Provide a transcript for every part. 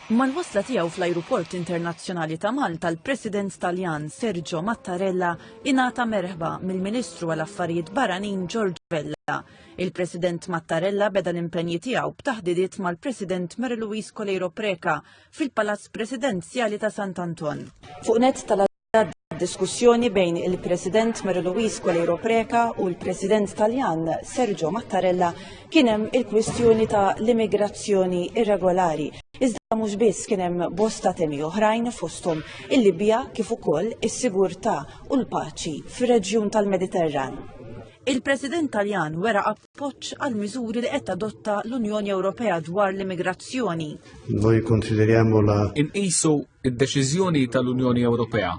Mal-wasla tiegħu fl-Ajruport Internazzjonali ta' Malta l-President Taljan Sergio Mattarella ingħata merħba mill-Ministru għal Affarijiet Barranin George Vella. Il-President Mattarella beda l-impenji tiegħu b'taħdidiet mal-President Mary Louise Coleiro Preca fil-Palazz Presidenzjali ta' Sant'Anton. Fuq net tal Diskussjoni bejn il-President Mary Louise Coleiro Preca u l-President Taljan Sergio Mattarella kien hemm il-kwistjoni ta' l-immigrazzjoni irregolari. Iżda mhux biss kien hemm bosta temi oħrajn fosthom il-Libja kif ukoll is-sigurtà u l-paċi fir-reġjun tal-Mediterran. Il-President Taljan wera appoġġ għal miżuri li qed tadotta l-Unjoni Ewropea dwar l-immigrazzjoni. Noi consideriamo la Inqisu id-deċiżjoni tal-Unjoni Ewropea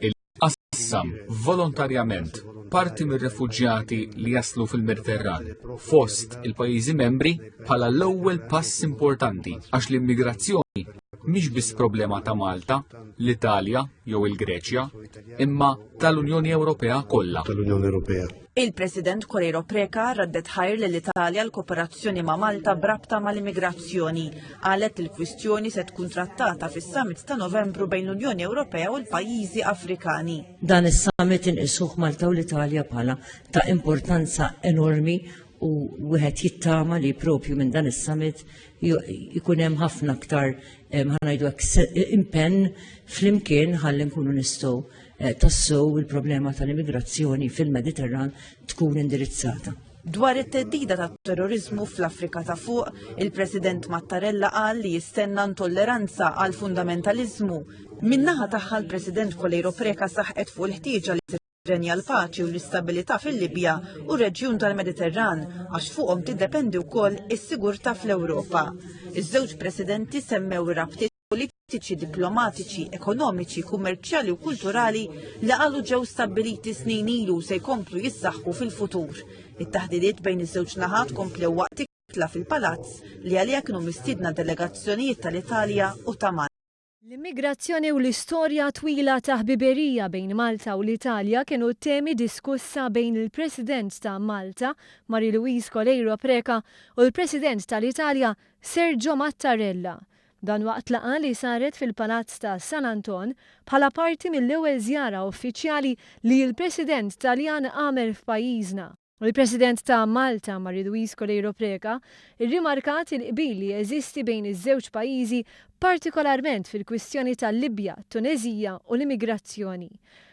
il qassam volontarjament parti mir-refuġjati li jaslu fil-Mediterran fost il-pajjiżi membri bħala l-ewwel pass importanti għax l-immigrazzjoni mhix biss problema ta' Malta, l-Italja jew il-Greċja, imma tal-Unjoni Ewropea kollha. tal-Unjoni Ewropea. Il-President Correiro Preca raddet ħajr l italja l-kooperazzjoni ma' Malta brabta mal-immigrazzjoni. Qalet li l-kwistjoni se tkun trattata fis-summit ta' Novembru bejn l-Unjoni Ewropea u l-pajjiżi Afrikani. Dan is-summit inqisuh Malta u l-Italja bħala ta' importanza enormi u wieħed jittama li propju minn dan is-summit jkun hemm ħafna aktar ħanajdu impenn flimkien ħalli nkunu nistgħu eh, tassew il-problema tal-immigrazzjoni fil-Mediterran tkun indirizzata. Dwar it-teddida ta' terrorizmu fl-Afrika ta' fuq, il-President Mattarella qal li jistenna intolleranza għal fundamentalizmu. Minnaħa tagħha l-President Kolejro Preka saħqet fuq il-ħtieġa li tirrenja l-paċi u l-istabilità fil-Libja u reġjun tal-Mediterran għax fuqhom tiddependi wkoll is-sigurtà fl-Ewropa. Iż-żewġ presidenti semmew ir-rabtiet politiċi, diplomatiċi, ekonomiċi, kummerċjali u kulturali li għalu ġew stabbiliti snin ilu se jkomplu jissaħħu fil-futur. It-taħdidiet bejn iż-żewġ naħat komplew waqt ikla fil-palazz li għalija kienu mistiedna delegazzjonijiet tal-Italja u ta' Malta. L-immigrazzjoni u l-istorja twila ta' ħbiberija bejn Malta u l-Italja kienu t-temi diskussa bejn il-President ta' Malta, Marie Louise Coleiro Preca, u l-President tal-Italja, Sergio Mattarella. Dan waqt laqgħa li saret fil-Palazz ta' San Anton bħala parti mill-ewwel żjara uffiċjali li l-President Taljan għamel f'pajjiżna. Il-President ta' Malta, Marie Louise Coleiro Preca, irrimarkat il-qbil li jeżisti bejn iż-żewġ pajjiżi partikolarment fil-kwistjoni tal-Libja, t-Tuneżija u l-immigrazzjoni.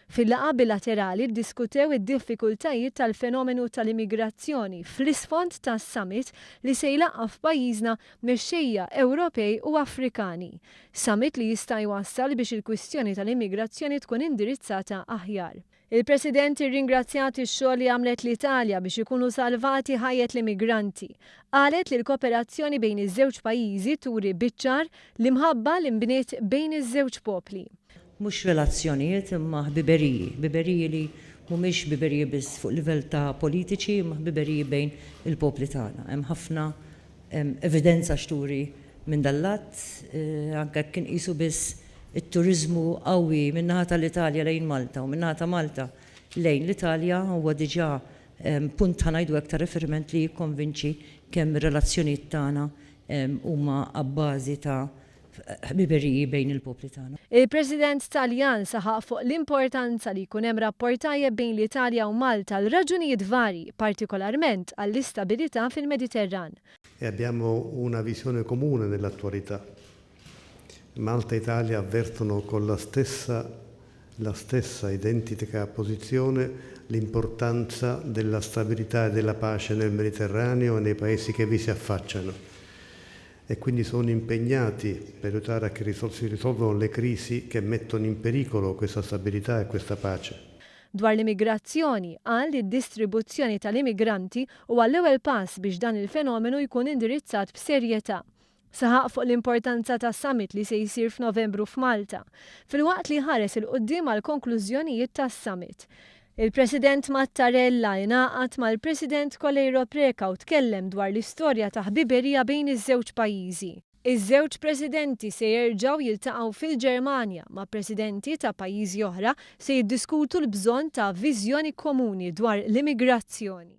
Fil-laqgħa bilaterali ddiskutew id-diffikultajiet tal-fenomenu tal-immigrazzjoni fl-isfond tas-Summit li se jlaqqgħa f'pajjiżna mexxejja Ewropej u Afrikani, summit li jista' jwassal biex il-kwistjoni tal-immigrazzjoni tkun indirizzata aħjar. Il-President irringrazzjat ix-xogħol li għamlet l-Italja biex ikunu salvati ħajjet l-immigranti. Qalet li l-koperazzjoni bejn iż-żewġ pajjiżi turi biċ-ċar l-imħabba li nbniet bejn iż-żewġ popli. mhux relazzjonijiet imma ħbiberiji, ħbiberiji li mhumiex ħbiberiji biss fuq livell ta' politiċi imma ħbiberiji bejn il-popli tagħna. Hemm ħafna evidenza x'turi minn dan l-att, anke jekk inqisu biss it-turiżmu qawwi min-naħa tal-Italja lejn Malta u min-naħa ta' Malta lejn l-Italja huwa diġà punt ħa ngħidu hekk ta' riferiment li jikkonvinċi kemm ir-relazzjonijiet tagħna huma abbażi ta' ħbiberiji bejn il-popli tagħna. Il-President Taljan saħaq fuq l-importanza li jkun hemm rapport tajjeb bejn l-Italja u Malta għal raġunijiet varji, partikolarment għall-istabilità fil-Mediterran. E abbiamo una visione comune nell'attualità. Malta e Italia avvertono con la stessa la stessa identica posizione l'importanza della stabilità e della pace nel Mediterraneo e nei paesi che vi si affacciano. e quindi sono impegnati per aiutare a che si risolvano le crisi che mettono in pericolo questa stabilità e questa pace. Dwar l-immigrazzjoni, qal li d-distribuzzjoni tal-immigranti huwa l-ewwel pass biex dan il-fenomenu jkun indirizzat b'serjetà. Saħaq fuq l-importanza tas-summit li se jsir f'Novembru f'Malta, filwaqt li ħares 'il quddiem għall-konklużjonijiet tas-summit. Il-President Mattarella ingħaqad mal-President Coleiro Preca u tkellem dwar l-istorja ta' ħbiberija bejn iż-żewġ pajjiżi. Iż-żewġ Presidenti se jerġgħu jiltaqgħu fil-Ġermanja, ma' Presidenti ta' pajjiżi oħra se jiddiskutu l-bżonn ta' viżjoni komuni dwar l-immigrazzjoni.